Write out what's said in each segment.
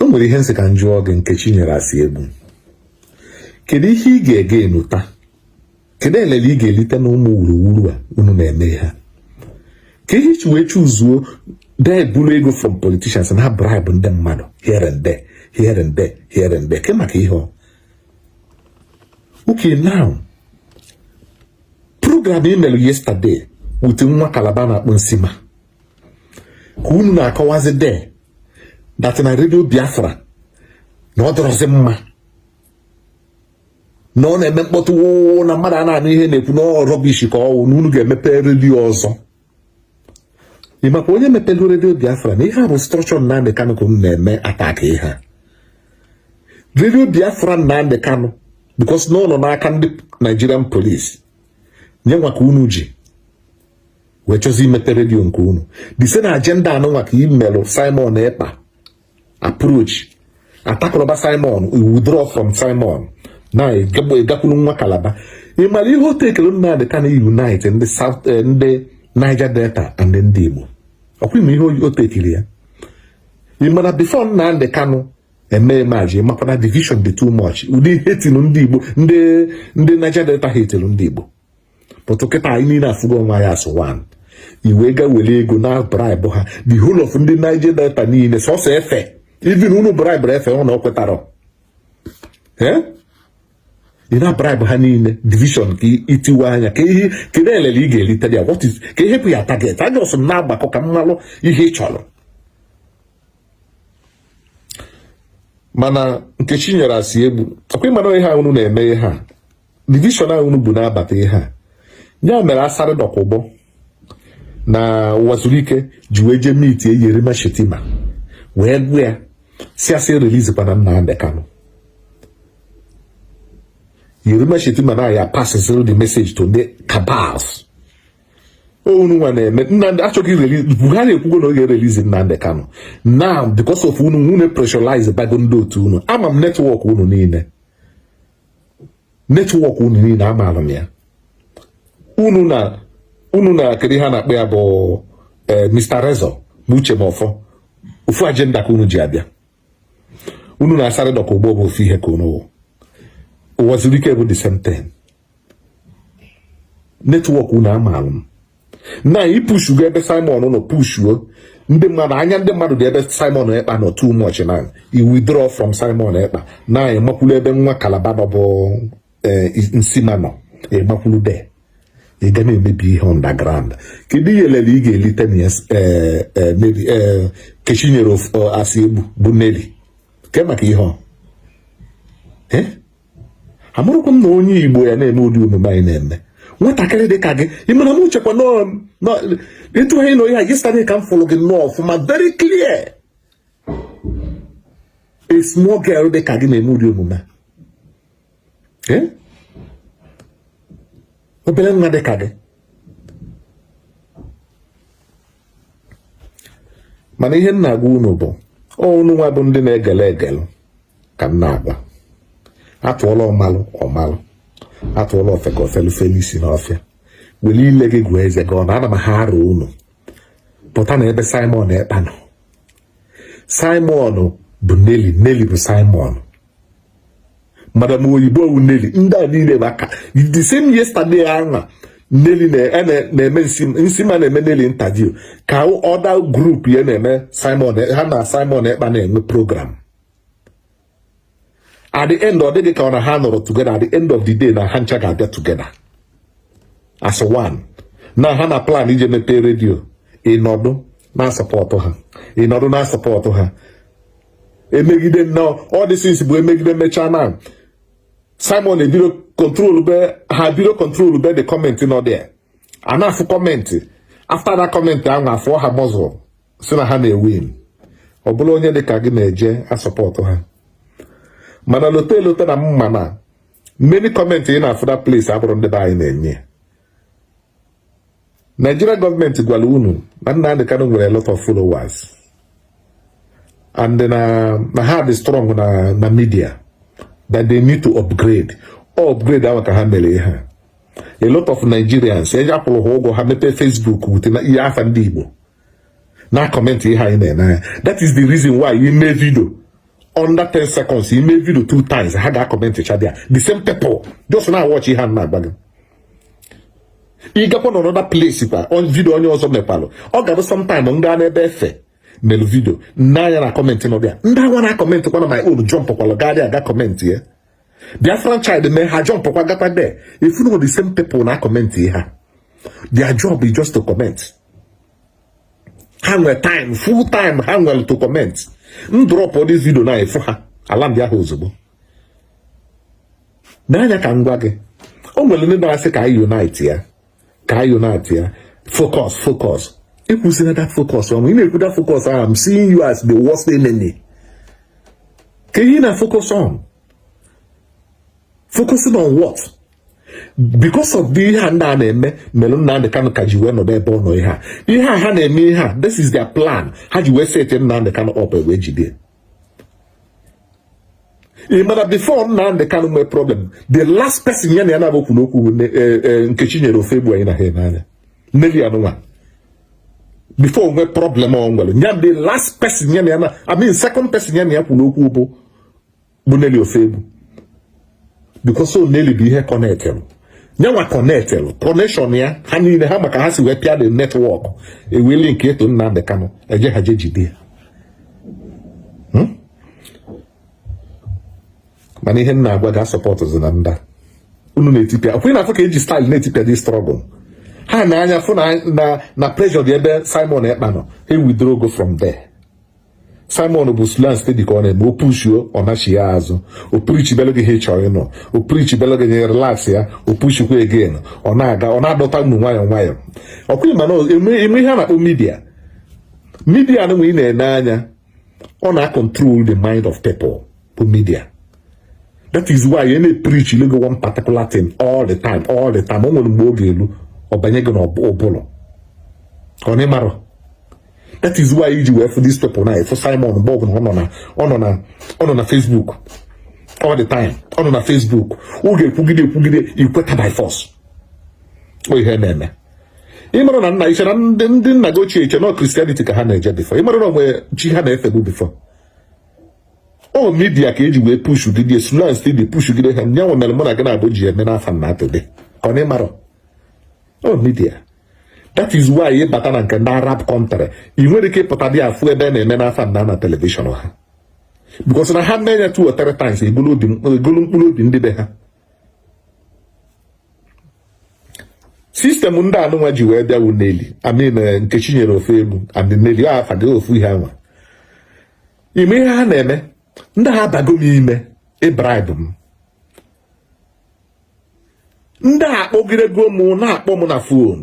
o nwere ihe m sị ka m jụọ gị Nkechinyere Asiegbu kedu ihe ị ga-eje enweta kedu elele ị ga-elite na ụmụ wuruwuru a unu na-eme ha ke ihe i ji wee chuzuo jee buru ego from politicians na bribe ndị mmadụ here and there here and there here and there ke maka ihe ọ okay now program i melu yesterday with nwa Kalaba a na-akpọ Nsima ka unu na-akọwazi de that na Radio Biafra na ọ dịrọzi mma na ọ na-eme mkpọtụ wụụ na mmadụ a na-anụ ihe a na-ekwu na ọ rubbish ka ọ wụ na unu ga-emepe radio ọzọ ị makwa onye mepelu Radio Biafra na ihe a bụ structure Nnamdi Kanu ka unu na-eme attack ihe a Radio Biafra Nnamdi Kanu because na ọ nọ n'aka ndị Nigerian police nya nwa ka unu ji wee chọzi imepe radio nke unu the same agenda anụnwa ka i melụ Simon Ekpa approach atakụrụba Simon withdraw from Simon now ị gakwuru nwa Kalaba ị mara ihe o take-iri Nnamdi Kanu unite ndị South eh, ndị Niger Delta and ndị Igbo ọ kwa ị ma ihe o take-iri ya ị mara before Nnamdi Kanu e-emerge ị makwa na division dị too much ụdị hatelu ndị Igbo ndị ndị Niger Delta hatelu ndị Igbo but kịta anyị niile afụgo onwe anyị as one i wee ga were ego na-a-bribe ha the whole of ndị Niger Delta niile sọsọ a few even unu bribe a few unu ọ kwetara ị na bribe ha niile division ka itiwe anya ke ihe kedu elele ị ga-erite ya what is ke ihe bụ your target anya ọsọ m na-agbakọ ka m malụ ihe ị chọrọ mana Nkechinyere Asiegbu ọ kwa ị ma na ihe unu na-eme ihe a division ahụ unu bu na-abata ihe a ya mere Asari Dokubo na Uwazuruike ji wee jee meet Yerima Shetima wee gwa ya sị a sị release kwana Nnamdi Kanu Yerima Shetima na ya passes the message to the cabals unu nwa na-eme Nnamdi a chọghị release Buhari ekwugo na ọ ga-e-release Nnamdi Kanu now because of unu unu pressurize bago ndị otu unu ama m network unu niile network unu niile amaara m ya unu na unu na kedu ihe a na-akpọ ya bụ eh, Mr. Rezo na Uche Mefor ofu agenda ka unu ji abịa unu na Asari Dokubo bụ ofu ihe ka unu Uwazuruike bụ the same thing network unu amaara m na ị pushu gaa ebe Simon nọ pushuo ndị mmadụ anya ndị mmadụ dị ebe Simon Ekpa nọ too much na i withdraw from Simon Ekpa na ịmakwulu ebe nwa Calabar nọ bụ eh, Nsima nọ ịmakwulu there ị ga na-emebi ihe underground kedu ihe elele ị ga-elite na eh, eh, Nkechinyere Asiegbu bụ Nelly ke maka ihe ọ amarọkwa m na onye Igbo ya na-eme ụdị omume a ị na-eme nwatakịrị dị ka gị ị mara m uchekwa ịtụ ha ị nọ ya yesterday ka m fụrụ gị nnọọ ọfụma very clear a small girl dị ka gị na-eme ụdị omume a eh? obere nwa dị ka gị mana ihe m na-agwa unu bụ unu nwa bụ ndị na-egele egele ka m na-agwa atụọla ọmalụ ọmalụ atụọla ofeke o felu felu isi n'ọfịa were ile gị gụọ eze gị ọnụ ana m arịọ unu pụta na ebe Simon Ekpa nọ Simon bụ Nelly Nelly bụ Simon madam oyibo wu Nelly ndị a niile bụkwa the same yesterday ahụ Nelly na-eme Nsima na-eme Nelly interview ka other group ya na-eme Simon ha na Simon Ekpa na-enwe program at the end ọ dị gị ka ọ na ha anọrọ together at the end of the day na ha ncha ga-abịa together as one na ha na-aplan ije mepee radio ị nọdụ na-asupport ha ị nọdụ na-asupport ha emegide nnọọ all these things bụ emegide mechaa na Simon ebido control be ha bido control be the comment nọ there a na-afụ comment after that comment ahụ afụọ ha muscle si na ha na-ewin ọ bụlụ onye dị ka gị na-eje asupport ha mana lote elote na mma na many comment ị na-afụ that place abụrọ ndị be anyị na-enye Nigeria government gwara unu na Nnamdi Kanu nwere a lot of followers and then na ha dị strong na na media that they need to upgrade ọ upgrade ahụ ka ha mere ihe a lot of Nigerians eji akwụrụ ha ụgwọ ha mepee Facebook with ihe afa ndị Igbo na-acomment ihe anyị na-ene anya that is the reason why i mee video under 10 seconds i mee video two times ha ga-acomment chaa there the same people just nọ watch ihe m na-agwa gị ị gakwa na another place kwa video onye ọzọ mepalụ ọ ga-abụ sometime m gaa n'ebe Efe mere video nee anya na comment nọ there ndị agwa na-acomment kwa na my own jump kwalụ gaa there gaa comment ya Biafran Child mee ha jump kwa gakwa there ị fụ na the same people na-acomment ihe a their job is just to comment ha nwere time full time ha nwere to comment m drop all this video na efu ha alarm bịa ha ozugbo nee anya ka m gwa gị o nwere ndị na-asị ka anyị unite ya ka anyị unite-ịa focus focus ekwuzina that focus anwa ị na-ekwu that focus ahụ I'm seeing you as the worst enemy ka anyị na focus on focusing on what because of the ihe a ndị a na-eme mere Nnamdị Kanu ka ji wee nọdụ ebe ọ nọ ihe a ihe a ha na-eme ihe a this is their plan ha ji wee set Nnamdị Kanu up wee jide ị ma na before Nnamdị Kanụ nwee problem the last person ya na ya naabọ kwuru okwu bụ eh, eh, Nkechinyere Ofoegbu ị na-ene anya Nelly anụnwa before o nwee problem ọ nwere ya the last person ya na ya na I mean second person ya na ya kwuru okwu bụ bụ Nelly Ofoegbu because ọ Nelly bụ ihe connectịlụ nyanwa connectịlụ connection ya ha niile ha maka ha si wee pịa the network e wee link it to Nnamdị Kanụ eje ha je jide ya hmm? mana ihe m na-agwa gị asupportụzina ndị a unu na-etipịa ọkwa ị na-afụ ka eji style na-etipịa the struggle ha nee anya fụ na na pressure dị ebe Simon Ekpa nọ e withdraw go from there Simon bụ slow and steady ka ọ na-eme o pushuo ọ nachịa azụ o preachibelụ gị ihe ị chọrọ ịnụ o preachibelụ gị nya relaxịa o pushikwa again ọ na-aga ọ na-adọta unu nwayọọ nwayọọ ọkwa ịma na eme ihe a na-akpọ media media anụnwa ị na-ene anya ọ na-acontrol the mind of people bụ media that is why ị na-epreachilụ gị one particular thing all the time all the time o nwere mgbe ọ ga-elu ọ banye gị n'ụbụrụ ọ na ịmarọ that is why iji wee fụ this people na ị fụ Simon mgbe ọbụla ọ nọ na ọ nọ na ọ nọ na Facebook all the time ọ nọ na Facebook ọ ga-ekwugide ekwugide ikweta by force ọ ihe na-eme ịmara na nna iche na ndị ndị nna gị ochie iche na Christianity ka ha na-eje before ịmara na o nwe chi ha na-efebu before ọ media ka eji wee pushuo gị jili slow and steady pushuo gị ha nyanwa mere mụ na gị naabọ ji eme n'afa nna today ka ọ na ịmarọ ọ media that is why ị bata na nke ndị Arab country ị nwerọ ike ịpụta dị afụ ebe a na-eme n'afa nna na television ha because na ha mee ya two or three times egolu mkpụrụ obi ndị be ha system ndị anụnwa ji wee bịa wu Nelly I mean eh, Nkechinyere Ofoegbu abi Nelly afa gị ofu ihe anwa ị ma ihe ha na-eme ndị a abago m ime ịbribe m ndị a akpọgidego m na-akpọ m na phone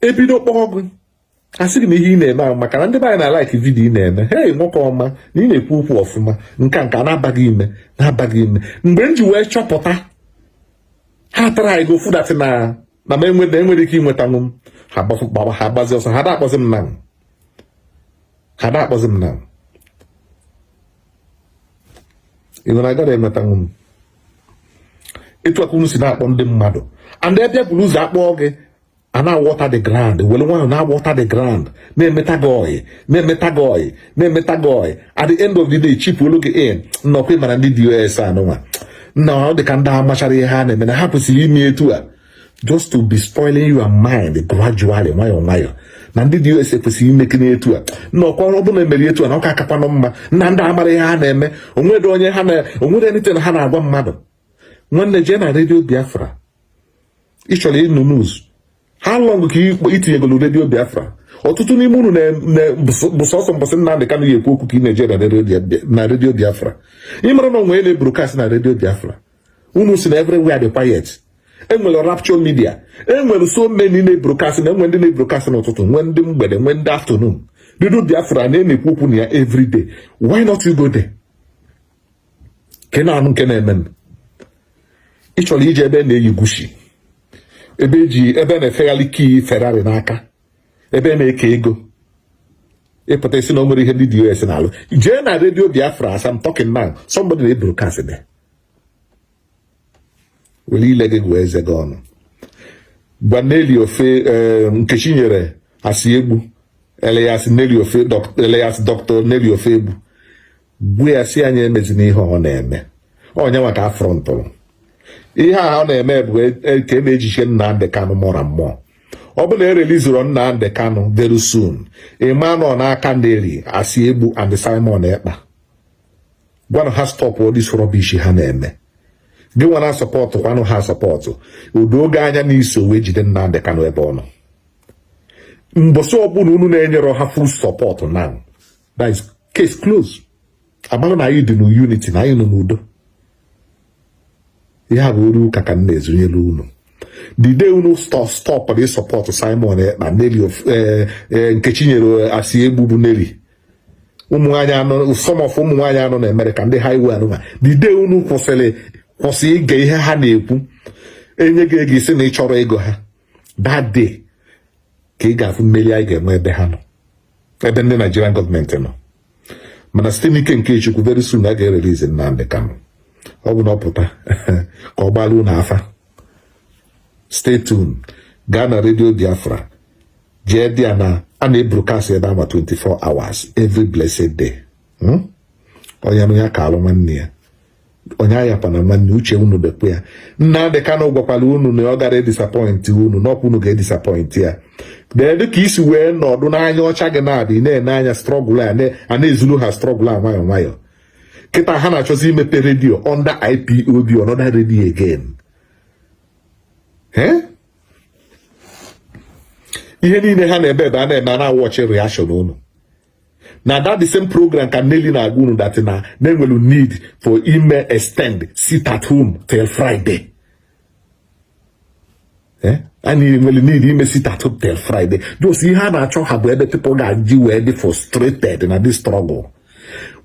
ebido kpọọ gị asị gị na ihe ị na-eme ahụ maka na ndị be anyị na-alike video ị na-eme hey nwoke ọma na ị na-ekwu okwu ọfụma nka nka na-aba gị ime na-aba gị ime mgbe m ji wee chọpụta ha atryịgo fụ that na na m enweta enwerọ ike inwetanwu m ha gbaba ha gbazi ọsọ ha da-akpọzi m na ha da-akpọzi m na ịnwere agara enwetanwu m etu aka unu si na-akpọ ndị mmadụ and ebe buru ụzọ akpọọ gị a na-awater the ground were nwayọ na-awater the ground na-emeta gị ọyị na-emeta gị ọyị na-emeta gị ọyị at the end of the day chipuolu gị in na ọ kwa ị mara ndị DOS anụnwa na ọ dị ka ndị amacharọ ihe ha na-eme na ha kwesịrị ime etu a just to be spoiling your mind gradually nwayọọ nwayọọ na ndị DOS ekwesịghị imeke n'etu a na ọ kwa ọ bụ na e mere etu a na ọ ka akakwanụ mma na ndị a amarọ ihe ha na-eme onwere onye ha na onwerọ anything ha na-agwa mmadụ nwanne jee na redio biafra ị chọrọ ịnụ news how long ka itinyegolu redio biafra ọtụtụ n'ime unu bụ sọsọ mbọsị Nnamdị Kanụ ya ekwu okwu ka ị na-eje na redio biafra ị mara na onwe na-ebrokasị na redio biafra unu si na everywhere dị quiet enwere rapture media enwere so many na-ebrokasị na enwe ndị na-ebrokasị n'ụtụtụ nwee ndị mgbede nwee ndị afternoon redio biafra na a na-ekwu okwu na ya everyday why not you go there ka ị na-anụ nke na-eme ị chọrọ ije ebe na-eyi Gucci ebe eji ebe na-efegharị key Ferrari n'aka ebe na-eke ego ị pụta ị sị na o nwerọ ihe ndị DOS na-alụ jee na redio biafra as I'm talking now somebody na-ebrokasị there were ile gị gụọ eze gị ọnụ gwa Nelly Ofo eh, Nkechinyere Asiegbu alias Nelly Ofo alias Doctor Nelly Ofoegbu gwa ya sị ya nya emezina ihe ọ na-eme onye nwa ka afrọntụrụ ihe a ọ na-eme bụ e, e, ka e na-ejiche Nnamdị Kanụ mụra mmụọ ọ bụ na erelizurọ Nnamdị Kanụ very soon ị ma na ọ n'aka Nelly Asiegbu and Simon Ekpa gwanụ ha stọpụ all this rubbish ha na-eme gị nwa na-asọpọtụ kwanụ ha asọpọtụ o doo gị anya na i so wee jide Nnamdị Kanụ ebe ọ nọ mbọsị ọbụla unu na-enyerọ ha full support now that is case closed a mara na anyị dị n'unity na anyị nọ n'udo ya bụ oru ụka ka m na-ezunyere unu the day unu stọpụrụ ịsọpọtụ Simon Ekpa Nelly eh, eh, Nkechinyere eh, Asiegbu bụ Nelly ụmụnwaanyị a nọ some of ụmụnwaanyị a nọ na Amerịka ndị highway anụnwa the day unu kwụsịrị kwụsị ige ihe ha na-ekwu e nye gị ego ị sị na ị chọrọ ego ha that day ka ị ga-afụ mmeri anyị ga-enwe ebe ha nọ ebe ndị Nigerian government nọ mana site n'ike nke Chukwu very soon a ga-erelize Nnamdi Kanu ọ bụ na ọ pụta ka ọ gbalụ unu afa stay tuned gaa na redio Biafra jee there na a na-ebrokast ebe ama 24 hours every blessed day hmm? onye nụ ya kaalụ nwanne ya onye ahapụna nwanne uche unu dịkwa ya Nnamdị Kanu gwakwara unu na ọ gara edisappoint unu na ọ kwa unu ga-edisappoint ya kedu ka i si wee nọdụ n'anya ọcha gị na-adị na-ene anya struggle a na-ezulu ha struggle a nwayọọ nwayọọ kịta ha na-achọzi imepe radio under IPOB another radio again ihe niile ha na-ebe ebe a na-eme a na-awatch reaction unu na that the same program ka Nelly na-agwa unu that na na e nwelu need for ime extend sit at home till Friday eh? anyị nwere need ime sit at home till Friday just ihe a na-achọ ha bụ ebe people ga-eji wee dị frustrated na this struggle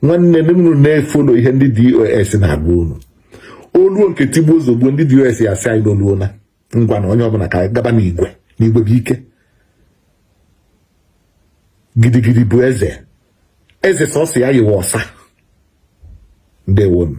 nwanne m unu na-efollow ihe ndị DOS na-agwa unu oluo nke tigbuo ozugbo ndị DOS ya sị anyị na oluona ngwanụ onye ọbụla ka anyị gaba n'igwe na igwe bụ ike gidigidi bụ eze eze sọsọ ya yiwe ọsa ndewonu